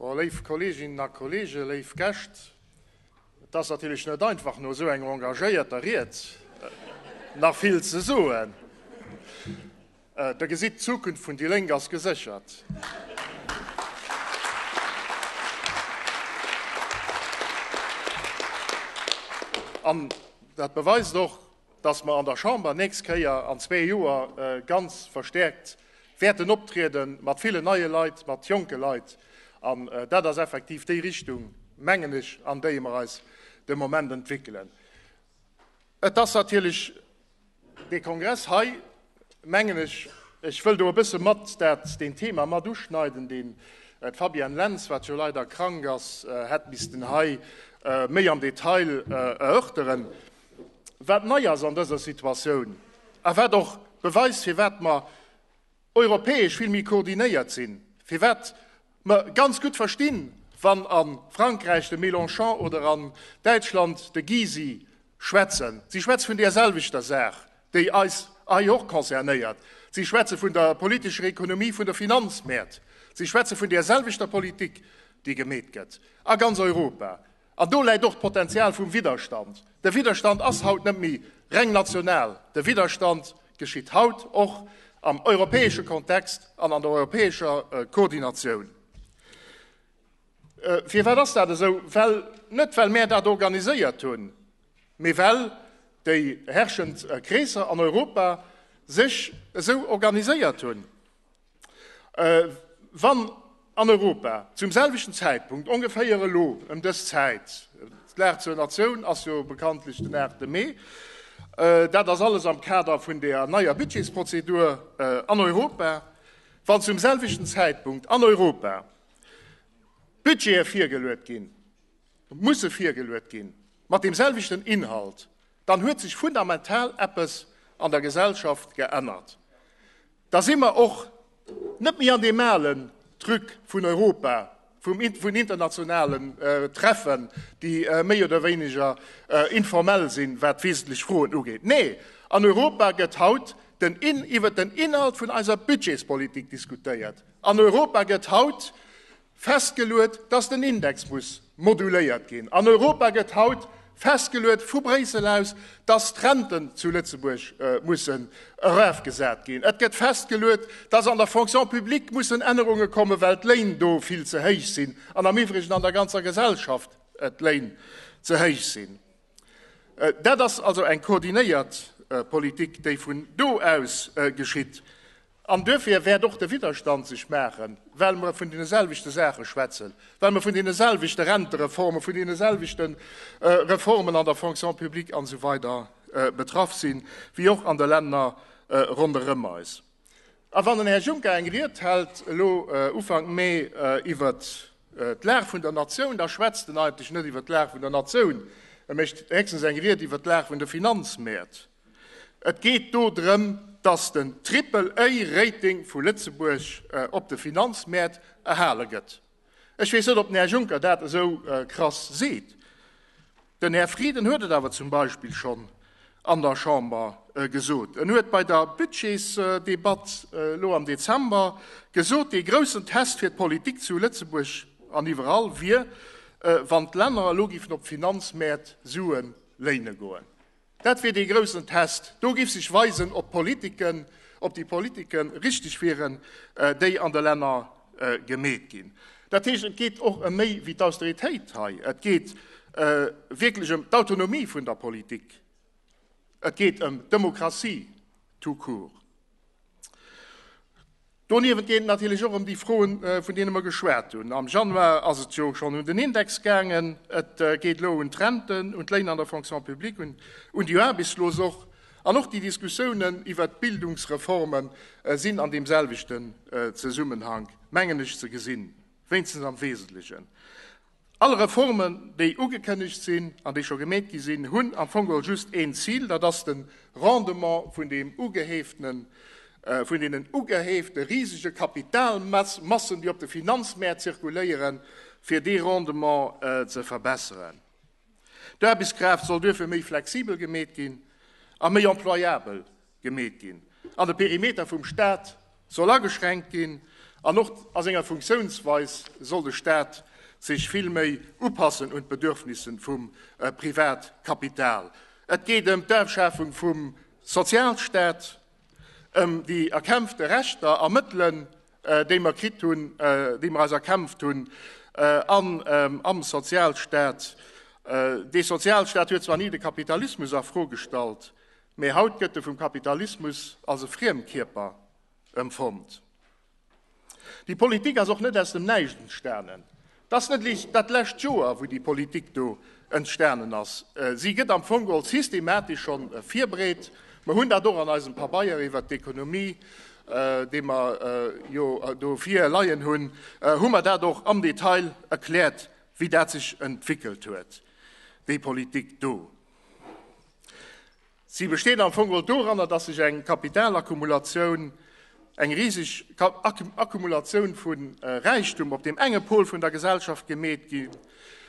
Léif Kolleeginnen a Kolleegen, léif Gäscht, et ass natierlech net einfach no esou enger engagéierter Ried nach vill ze soen. Der gesitt, d'Zukunft vun déi Lénk ass geséchert. An dat beweist och, dass mer an der Chamber nächst Kéier an zwee Joer ganz verstärkt wäerten optriede mat villen neie Leit, mat jonke Leit. An dat ass effektiv déi Richtung, mengen ech, an déi mer eis de Moment entwickeln. Et ass natierlech dee Kongress hei, mengen ech, ech wëll do e bësse mat dat deen Thema mat uschneiden, deen d'Fabienne Lentz, wat jo leider krank ass, hätt missten hei méi am Detail erörteren. wat nei ass an dëser Situatioun a wat och beweist, firwat mer europäesch vill méi koordinéiert sinn, firwat mer ganz gutt verstinn, wann a Frankräich de Mélenchon oder an Däitschland de Gysi schwätzen. Si schwätze vun där selwechter Saach, déi eis hei och concernéiert. Si schwätze vun der politescher Ekonomie vun de Finanzmäert. Si schwätze vun där selwechter Politik, déi gemeet gëtt a ganz Europa. An do läit och d'Potenzial vum Widderstand. De Widderstand ass haut net méi reng national, de Widderstand geschitt haut och am europäesche Kontext an an der europäescher Koordinatioun. Firwat ass dat esou? Well, net well mär dat organiséiert hunn, mee well déi herrschend Kreesser an Europa sech esou organiséiert hunn. Wann an Europa zum selwechten Zäitpunkt, ongeféier elo ëm dës Zäit, d'Lag zur Natioun ass jo bekanntlech den 8 Mee, dat ass alles am Kader vun der neier Budgetsprozedur an Europa, wann zum selwechten Zäitpunkt an Europa Budgete virgeluet ginn, musse virgeluet gi mat deem selwechten Inhalt, dann huet sech fundamental eppes an der Gesellschaft geännert. Da si mer och net méi an deem alen Truc vun Europa, vun internationalen Treffen, déi méi oder wéineger informell sinn, wat wesentlech Froen ugeet. Nee, an Europa gëtt haut iwwert den Inhalt vun eiser Budgetspolitik diskutéiert. An Europa gëtt haut festgeluet, dass den Index muss moduléiert ginn. An Europa gëtt haut festgeluet vu Bréissel aus, dass d'Renten zu Lëtzebuerg mussen erafgesat ginn. Et gëtt festgeluet, dass an der Fonction publique mussen Ännerunge kommen, well d'Léin do vill ze héich sinn an am iwwregen an der ganzer Gesellschaft d'Léin ze héich sinn. Dat ass also eng koordinéiert Politik, déi vun do aus geschitt. An duerfir wäert och de Widderstand sech maachen, well mer vun deene selwechte Saache schwätzen, well mer vun deene selwechte Rentereformen, vun deene selwechte Reformen an der Fonction publique an esou weider betraff sinn, wéi och an de Länner ronderëm eis. A wann den Här Juncker eng Ried hält elo Ufank Mee iwwer d'Lag vun der Natioun, da schwätzt en eigentlech net iwwer d'Lag vun der Natioun, e mécht héchstens eng Ried iwwer d'Lag vun de Finanzmäert. Et geet do drëm, datt den Triple-A-Rating vu Lëtzebuerg op de Finanzmäert erhale gëtt. Ech weess net, ob den Här Juncker dat esou krass seet. Den Här Frieden huet et awer zum Beispill schonn an der Chamber gesot. En huet bei der Budgetsdebatt elo am Dezember gesot, dee groussen Test fir d'Politik zu Lëtzebuerg an iwwerall wier, wann d'Länner elo géifen op d'Finanzmäert Sue léine goen. Dat wier dee groussen Test. Do giff sech weisen, ob d'Politiken, ob déi Politiken richteg wieren, déi an de Länner gemeet ginn. Dat heescht, et geet och ëm méi wéi d'Austeritéit hei. Et geet wierklech ëm d'Autonomie vun der Politik. Et geet ëm d'Demokratie tout court. Doniewent geet et natierlech och ëm déi Froen, vun deene mer geschwat hunn. Am Januar ass et jo schonn un den Index gaangen. Et geet elo un d'Renten, un d'Léiner an der Fonction publique, un, un déi Aarbechtslos och. An och déi Diskussiounen iwwert d'Bildungsreforme sinn an deemselwechten Zesummenhank, mengen ech, ze gesinn, wéinstens am Wesentlechen. All Reformen, déi ugekënnegt sinn an déi scho gemeet gi sinn, hunn am Fong geholl just een Zil, dat ass de Rendement vun deem ugeheeften, vun deenen ugeheefte risege Kapitalmassen, déi op de Finanzmäert zirkuléieren, fir dee Rendement ze verbesseren. D'Aarbechtskraaft soll duerfir méi flexibel gemeet ginn a méi employabel. gemeet ginn an de Perimeter vum Staat soll ageschränkt ginn an och a senger Funktiounsweis soll de Staat sech vill méi upassen un d'Bedürfnisse vum Privatkapital. Et geet ëm d'Afschafung vum Sozialstaat, ëm déi erkämpfte Rechter a Mëttelen, déi mer kritt hunn, déi mer eis erkämpft hunn an am Sozialstaat. Dee Sozialstaat huet zwar ni de Kapitalismus a Fro gestallt, Mee haut gëtt e vum Kapitalismus als e Friemkierper emfonnt. Déi Politik ass och net aus dem Näischt entstanen. Et ass net eréischt dat lescht Joer, wou déi Politik do entstanen ass. Si gëtt am Fong geholl systematesch schonn virbereet. Mer hunn dat och an eisem Pabeier iwwert d'Ekonomie, dee mer jo do vir leien hunn, hu mer dat och am Detail erkläert, wéi dat sech entwéckelt huet, déi Politik do. Si besteet am Fong doranner, datt sech eng Kapitalakkumulatioun, eng riseg Akkumulatioun vu äh, Räichtum op deem enge Pol vun der Gesellschaft gemeet gi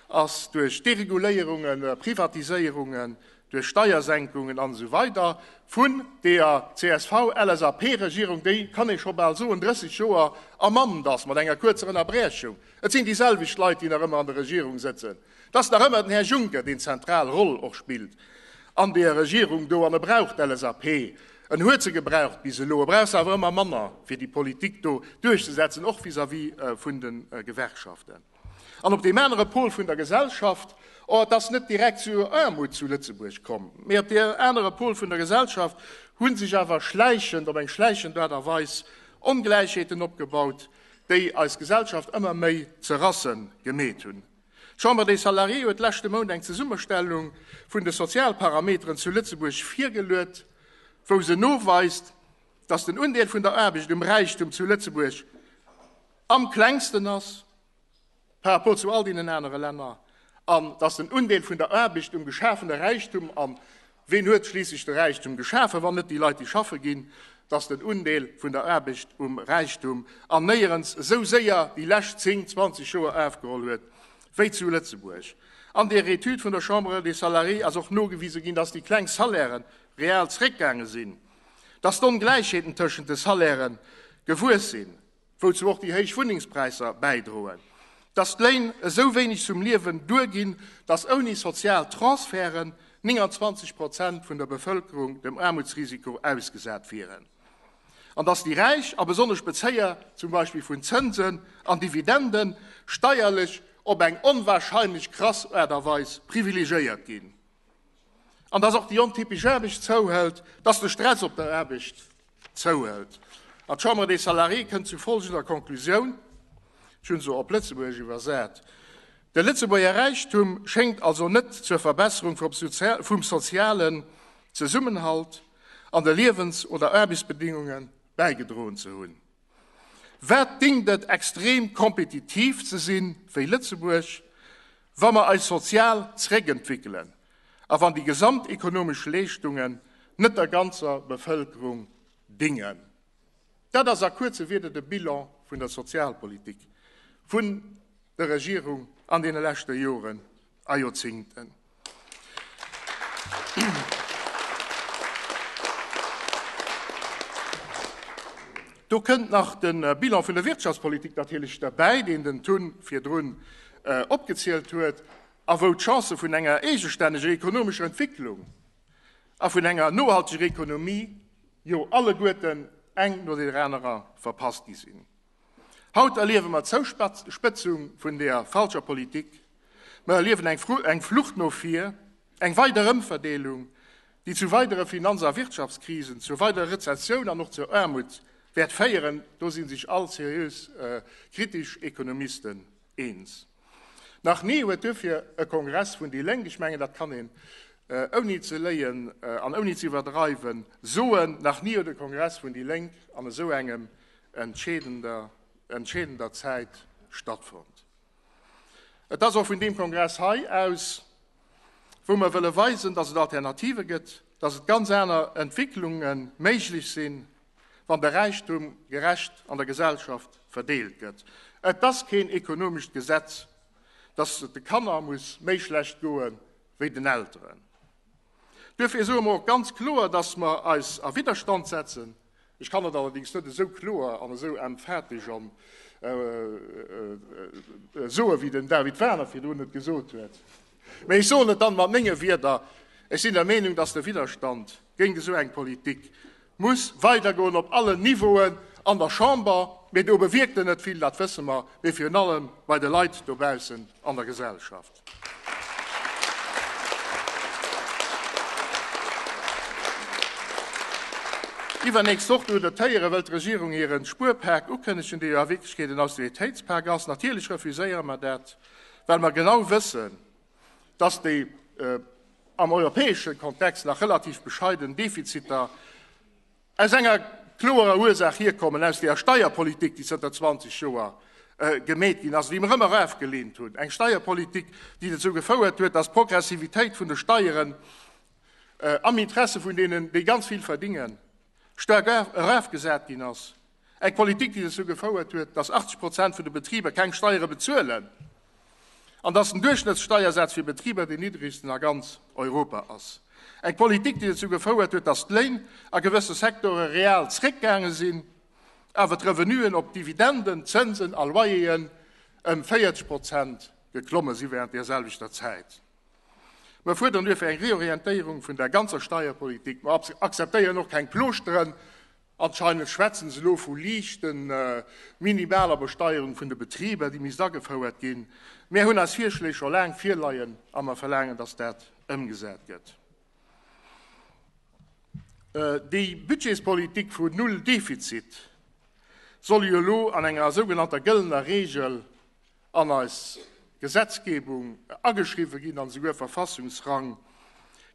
ass duerch Dereguléierungen, Privatiséierungen, duerch Steiersenkungen an esou weider vun deeër CSV-LSAP-Regierung, déi, kann ee scho bal soen, 30 Joer am Amt ass, mat enger kuerzer Ënnerbrechung. Et sinn déi selwecht Leit, déi nach ëmmer an der Regierung sëtzen. Et ass nach ëmmer den Här Juncker, deen d'zentral Roll och spillt an deer Regierung do, an e brauch d'LSAP, en huet se gebraucht bis elo, e brauch se awer ëmmer manner, fir déi Politik do duerchzesetzen, och vis-à-vis vun de Gewerkschaften an op deem anere Pol vun der Gesellschaft. Oh, et ass net direkt zur Aarmut zu Lëtzebuerg komm, mee op deem anere Pol vun der Gesellschaft hu sech awer schläichend, op eng schläichend Aart a Weis, Ongläichheeten opgebaut, déi eis Gesellschaft ëmmer méi ze rasse gemeet hunn. D'Chambre des Salariés huet leschte Mount eng Zesummestellung vun de Sozialparameteren zu Lëtzebuerg virgeluet, wou se noweist, datt den Undeel vun der Aarbecht um Räichtum zu Lëtzebuerg am klengsten ass par rapport zu all deenen anere Länner an datt den Undeel vun der Aarbecht um geschafene Räichtum am Ween huet schliisslech de Räichtum geschafen, wann net déi Leit, déi schaffe ginn? Dass den Undeel vun der Aarbecht um Räichtum an néierens esou séier déi lescht zéng, zwanzeg Joer afgeholl huet wéi zu Lëtzebuerg. An der Etüd vun der Chambre des Salariés ass och nogewise ginn, dass déi kleng Salairë real zréckgaange sinn, dass d'Ongläichheeten tëschent de Salairë gewuess sinn. Wouzu och déi héich Wunnengspräisser bäidroen, dass d'Léin esou wéineg zum Liewen duerginn, dass ouni sozial Transferten 29 Prozent vun der Bevëlkerung dem Aarmutsrisiko ausgesat wieren. An dass déi Räich, a besonnesch Bezéier zum Beispill vun Zënsen an Dividenden, steierlech op eng onwahrscheinlech krass Aart a Weis privilegéiert ginn. an dass och déi ontypesch Aarbecht zouhëlt, dass de Stress op der Aarbecht zouhëlt. An d'Chambre des Salariés kënnt zu folgender Konklusioun, ech hunn se op Lëtzebuergesch iwwersat, De Lëtzebuerger Räichtum schéngt also net zur Verbesserung vum sozialen Zesummenhalt an de Liewens oder Aarbechtsbedéngunge bäigedroen ze hunn. Wat déngt et extrem kompetitiv ze si wéi Lëtzebuerg, wa mer eis sozial zréckentwickelen a wann déi gesamt ekonomesch Leeschtungen net der ganzer Bevëlkerung dingen? Dat ass a kuerze Wieder de Bilan vun der Sozialpolitik vun der Regierung an deene leschte Joren a Joerzingten. Do kënnt nach de Bilan vun der Wirtschaftspolitik natierlech derbäi, deen den Tun virdrun opgezielt huet a wou d'Chancë vun enger eegestänneger ekonomescher Entwicklung a vun enger nohalteger Ekonomie jo alleguerten eng no der anerer verpasst gi sinn. Haut erliewe mer d'Zouspëtzung vun der falscher Politik. Mer erliewen eng Flucht no vir, eng weider Ëmverdeelung, déi zu weidere Finanz a Wirtschaftskrisen, zur weiderer Rezessioun an och zur Aarmut wäert féieren. Do si sech all seriös kritesch Ekonomisten eens. Nach ni huet duerfir e Kongress vun déi Lénk, ech mengen, dat kann een ouni ze léien an ouni ze iwwerdreiwen soen, nach ni huet e Kongress vun déi Lénk an esou engem entscheedender, entscheedender Zäit stattfonnt. Et ass och vun deem Kongress hei aus, wou mer wëlle weisen, dass et Alternative gëtt, dass et ganz aner Entwicklunge méiglech sinn, wann de Räichtum gerecht an der Gesellschaft verdeelt gëtt. Et ass keen ekonomescht Gesetz, datt et de Kanner muss méi schlecht goe wéi den Elteren. Duerfir soe mer och ganz kloer, datt mer eis a Widderstand setzen. Ech kann et allerdings net esou kloer an esou emphatesch an soe wéi den David Wagner virdrun et gesot huet. Mee ech soen et dann mat menge Wieder, Ech sinn der Meenung, datt de Widderstand géint esou eng Politik muss weidergoen op allen Niveauen an der Chamber, mee do bewierkt en net vill, dat wësse mer, mee virun allem bei de Leit dobaussen an der Gesellschaft. Iwwernächst Woch doe dotéiere wëll d'Regierung hire Spuerpak ukënnegen, dee jo a Wierklechkeet en Austeritéitspak ass. Natierlech refuséiere mer dat, well mer genau wëssen, dass déi am europäesche Kontext nach relativ bescheiden Defiziter aus enger kloerer Ursaach hierkommen, aus där Steierpolitik, déi zënter 20 Joer gemeet ginn ass, déi mer ëmmer erafgelehnt hunn, eng Steierpolitik, déi dozou gefouert huet, dass d'Progressivitéit vun de Steieren am Interesse vun deenen, déi ganz vill verdingen, staark erafgesat ginn ass. Eng Politik, déi dozou gefouert huet, datt 80 Prozent vun de Betriber keng Steiere bezuelen an datt den Duerchschnëttssteiersaz fir Betriber deen niddregsten a ganz Europa ass. Eng Politik, déi dozou gefouert huet, datt d'Léin a gewësse Sektore real zréckgaange sinn, awer d'Revenuen op Dividenden, Zënsen a Loyeren ëm 40 Prozent geklomme si während där selwechter Zäit. Mer fuerderen duerfir eng Reorientéierung vun der ganzer Steierpolitik. Mer akzeptéieren och keng Plooschteren. Anscheinend schwätzen se elo vu liichte minimaler Besteierung vun de Betriber, déi misst agefouert ginn. Mär hunn eis Virschléi scho laang virleien a mer verlaangen, dass dat ëmgesat gëtt. Déi Budgetspolitik vu Null Defizit soll jo elo an enger sougenannter gëllener Reegel an eis Gesetzgebung ageschriwwen ginn an esouguer Verfassungsrang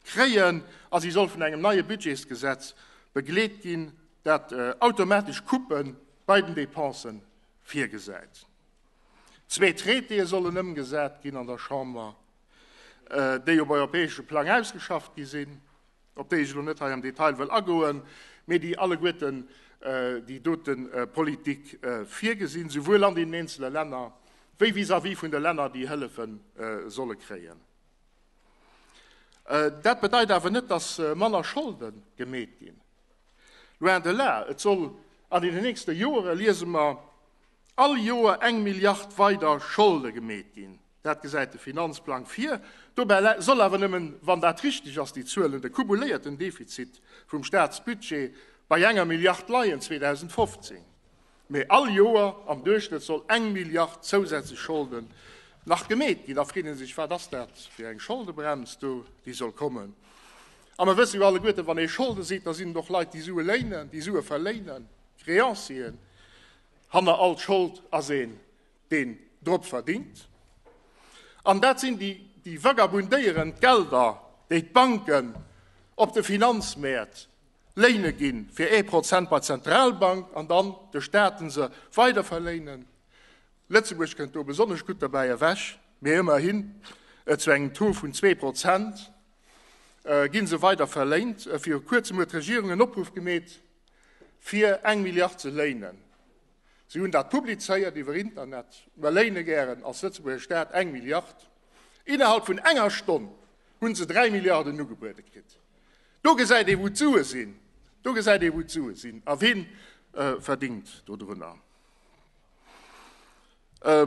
kréien, a si soll vun engem neie Budgetsgesetz begleet ginn, dat automatesch Coupe bei den Depensen virgesäit. Zwee Traitéë sollen ëmgesat ginn an der Chamber, déi op europäesche Plang ausgeschafft gi sinn. op déi ech elo net hei am Detail wëll agoen, mee déi alleguerten déi dote Politik virgesinn, souwuel an deenen eenzele Länner wéi vis-à-vis vun de Länner, déi Hëllefe solle kréien. Dat bedeit awer net, dass manner Scholde gemeet ginn, loin de là. Et soll an deenen nächste Joere, liese mer, all Joer eng Milliard weider Scholde gemeet ginn. Dat gesäit de Finanzplang vir. Dobäi soll awer nëmmen, wann dat richteg ass, déi Zuelen, de kumuléierten Defizit vum Staatsbudget bei enger Milliard leien 2015. Mee all Joer am Duerchschnëtt soll eng Milliard zousätzlech Scholden nach gemeet ginn. Da freet ee sech, wat ass dat fir eng Scholdebrems do, déi soll kommen? A mer wësse jo alleguerten, wann ee Scholde seet, da sinn et och Leit, déi Sue léinen, déi Sue verléinen, Créancieren. Hanner all Schold ass ee deen drop verdingt. An dat sinn déi, déi vagabundéieren, d'Gelder, déi d'Banken op de Finanzmäert léine ginn, fir ee Prozent bei d'Zentralbank, an dann de Staten se weiderverléinen. Lëtzebuerg kënnt do besonnesch gutt dobäi ewech, mee ëmmerhin zu engem Taux vun zwee Prozent ginn se weiderverléint. Viru Kuerzem huet d'Regierung en Opruff gemeet, fir eng Milliard ze léinen. Si hunn dat publizéiert iwwer Internet. Mer léine gären als Lëtzebuerger Staat eng Milliard. Innerhalb vun enger Stonn hu se dräi Milliarden ugebuede kritt. Do gesäit ee wou d'Sue sinn, do gesäit ee wou d'Sue sinn a wien verdingt dodrunner.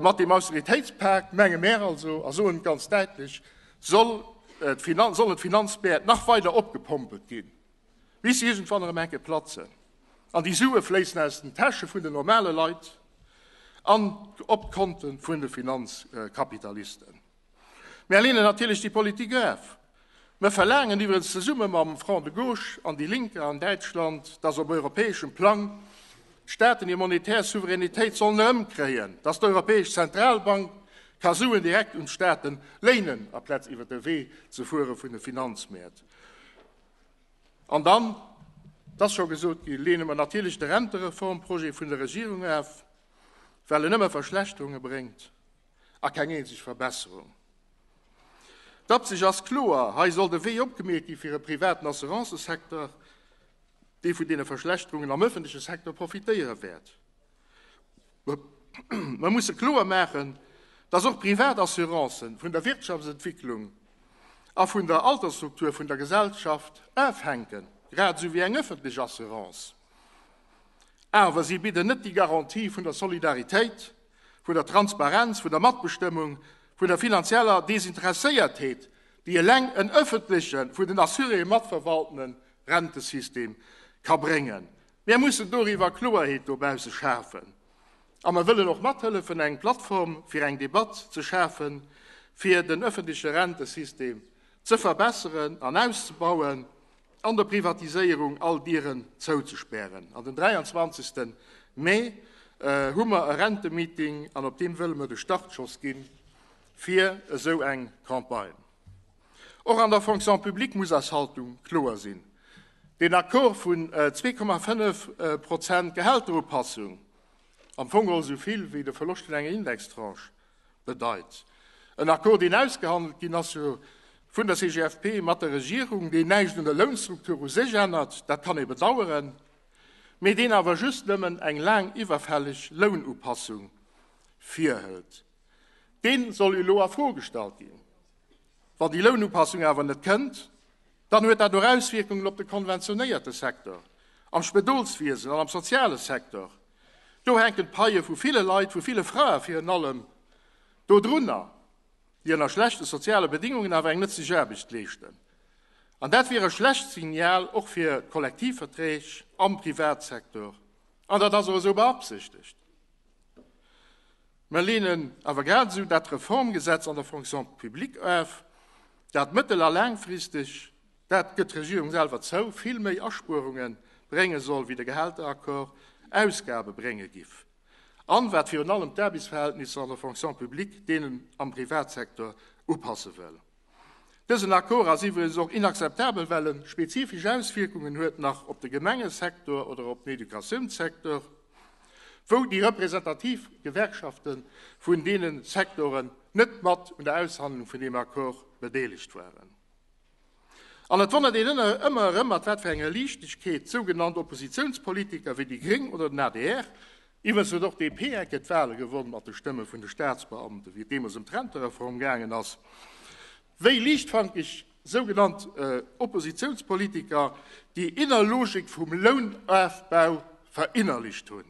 Mat deem Austeritéitspak menge mär also a soen et ganz däitlech, sollen d'Finanzmäert nach weider opgepompelt ginn. bis se iergendwann erëm enke platzen an déi Sue fléissen aus den Täsche vun de normale Leit an op d'Konte vun de Finanzkapitalisten. Mär leenen natierlech déi Politik of. Mär verlaangen iwwerens zesumme mam Front de gauche an déi Lénker an Däitschland, dass op europäeschem Plang d'Staaten hir monetär Souveränitéit sollen erëmkréien, dass d'Europäesch Zentralbank ka Suen direkt un d'Staaten léinen, aplaz iwwer de Wee ze fuere vun de Finanzmäert. An dann, et ass scho gesot ginn, lehne mer natierlech de Rentereformprojet vun der Regierung af, well en nëmme Verschlechterunge bréngt a keng eenzeg Verbesserung. D'Absich ass kloer, Hei soll de Wee opgemiet gi fir e privaten Assurancesecteur, dee vun deene Verschlechterungen am öffentleche Secteur profitéiere wäert. Mer musse kloer maachen, dass och privat Assurancen vun der Wirtschaftsentwicklung a vun der Altersstruktur vun der Gesellschaft ofhänken, grad esou wéi eng öffentlech Assurance. Awer si bidden net déi Garantie vun der Solidaritéit, vun der Transparenz, vun der Matbestëmmung, vun der finanzieller Desinteresséiertheet, déi eleng en öffentlechen, vun den Assuréeë matverwaltene Rentesystem ka bréngen. Mär mussen doriwwer Kloerheet dobausse schafen a mer wëllen och mathëllefen eng Plattform fir eng Debatt ze schafen, fir den ëffentleche Rentesystem ze verbesseren an auszebauen an der Privatiséierung all Dieren zouzespären. An den 23. Mee hu mer e Rentemeeting an op deem wëlle mer de Startschoss gi fir esou eng Campagne. Och an der Fonction publique muss eis Haltung kloer sinn. Deen Accord vun 2,5 Prozent Gehälterupassung, am Fong och esou vill wéi de Verloscht vun enger Indextranche bedeit, en Accord, deen ausgehandelt ginn ass vun der CGFP mat der Regierung, deen näischt un der Lounstruktur u sech ännert, dat kann ee bedauern, mee deen awer just nëmmen eng laang iwwerfälleg Lounupassung virhëlt. dee soll elo a Fro gestallt ginn. Wann déi Lounupassung awer net kënnt, dann huet dat och Auswierkungen op de konventionéierte Secteur, am Spëdolswiesen an am soziale Secteur. Do hänken d'Paie vu ville Leit, vu ville Frae virun allem dodrunner, déi ënner schlechte soziale Bedingungen awer eng nëtzlech Aarbecht leeschten. An dat wier e schlecht Signal och fir d'Kollektivverträg am Privatsecteur. An dat ass och esou beabsichtegt. Mer leenen awer grad esou dat Reformgesetz an der Fonction publique of, dat mëttel a laangfristeg, dat gëtt d'Regierung selwer zou, vill méi Aspuerunge brénge soll wéi de Gehälteraccord Ausgabe brénge giff, an wat virun allem d'Aarbechtsverhältnisser an der Fonction publique deenen am Privatsektor upasse wëll. Dësen Accord ass iwwregens och inakzeptabel, well e spezifesch Auswierkungen huet nach op de Gemengesektor oder op den Educatiounssektor, wou déi representativ Gewerkschafte vun deene Sektoren net mat un der Aushandlung vun deem Accord bedeelegt waren. An et wonnert een ëmmer erëm, mat wat fir enger Liichtegkeet sougenannt Oppositiounspolitiker wéi déi Gréng oder den adr, Iwwregens huet och d'DP-Ecke d'Wale gewonn, mat de Stëmme vun de Staatsbeamten, wéi et deemools ëm d'Rentereform gaangen ass. Wéi liichtfankeg sougenannt Oppositiounspolitiker déi inner Logik vum Lounofbau verinnerlicht hunn.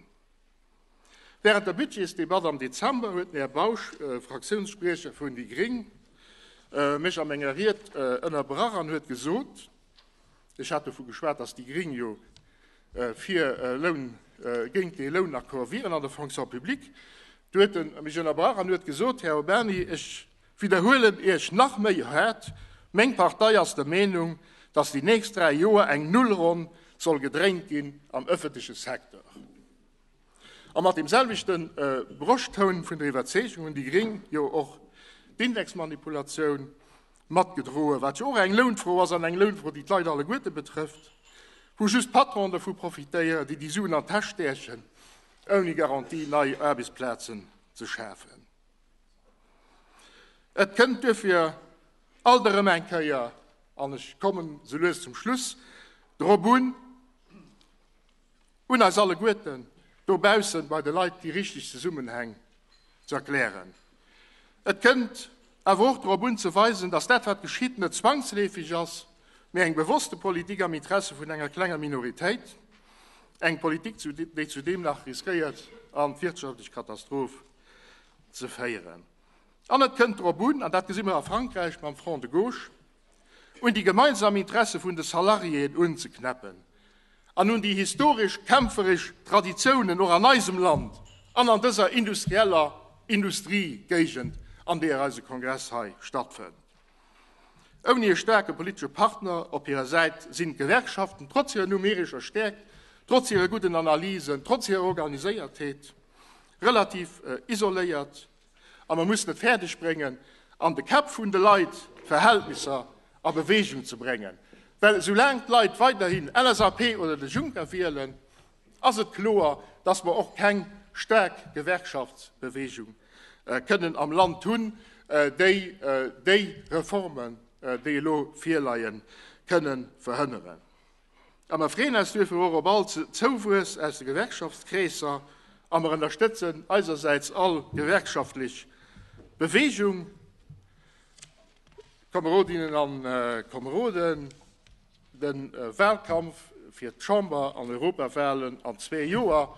Wärend der Budgetsdebatt am Dezember huet den Här Bausch, Fraktiounsspriecher vun déi Gréng, mech a menger Ried ënnerbrach an huet gesot, Ech hat dovu geschwat, dass déi Gring jo fir Loun, géint dee Lounaccord wieren an der Fonction publique. Du huet en mech ënnerbrach an huet gesot, Här Urbany, ech widderhuelen Iech nach méi hart, meng Partei ass der Meenung, dass déi nächst dräi Joer eng Nullronn soll gedréint ginn am öffentleche Secteur. A mat deem selwechte Broschtoun vun der Iwwerzeegung hunn déi Gring jo och d'Indexmanipulatioun matgedroen, wat jo och eng Lounfro ass an eng Lounfro, déi d'Leit alleguerte betrëfft, wou just d'Patronen dovu profitéieren, déi déi Suen an d'Täsch stächen, ouni Garantie nei Aarbechtsplazen ze schafen. Et kënnt duerfir alt erëm eng Kéier, an ech kommen sou lues zum Schluss, drop un, un eis alleguerten dobaussen bei de Leit déi richteg Zesummenhäng ze erklären. Et kënnt awer och drop un ze weisen, datt dat wat geschitt net zwangsleefeg ass, mee eng bewosste Politik am Interesse vun enger klenger Minoritéit, eng Politik zu déi zudeem nach riskéiert an d'wirtschaftlech Katastroph ze féieren. An et kënnt drop un, an dat gesi mer a Frankräich mam Front de gauche, un déi gemeinsam Interesse vun de Salariéen unzeknäppen an un déi historesch kämpferesch Traditiounen och an eisem Land an an dëser industrieller Industriegéigend, an deeër eise Kongress hei stattfënnt. Ouni e staarke politesche Partner op hirer Säit sinn d'Gewerkschaften, trotz hirer numerescher Stäerkt, trotz hire gudden Analysen, trotz hirer Organiséiertheet, relativ isoléiert A mer mussen et fäerdeg bréngen, an de Käpp vun de Leit Verhältnisser a Beweegung ze bréngen. Well esoulaang d'Leit weiderhin LSAP oder de Juncker wielen, ass et kloer, datt mer och keng staark Gewerkschaftsbeweegung kënnen am Land hunn, déi déi Reformen, déi elo virleien, kënnen verhënneren. A mer freeën eis duerfir och op all Zouwuess aus de Gewerkschaftskreesser a mer ënnerstëtzen eisersäits all gewerkschaftlech Beweegung. Kamerodinnen a Kameroden, de Wahlkampf fir d'Chamber an Europawahlen an zwee Joer,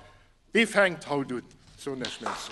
dee fänkt haut un. Ech soen Iech Merci.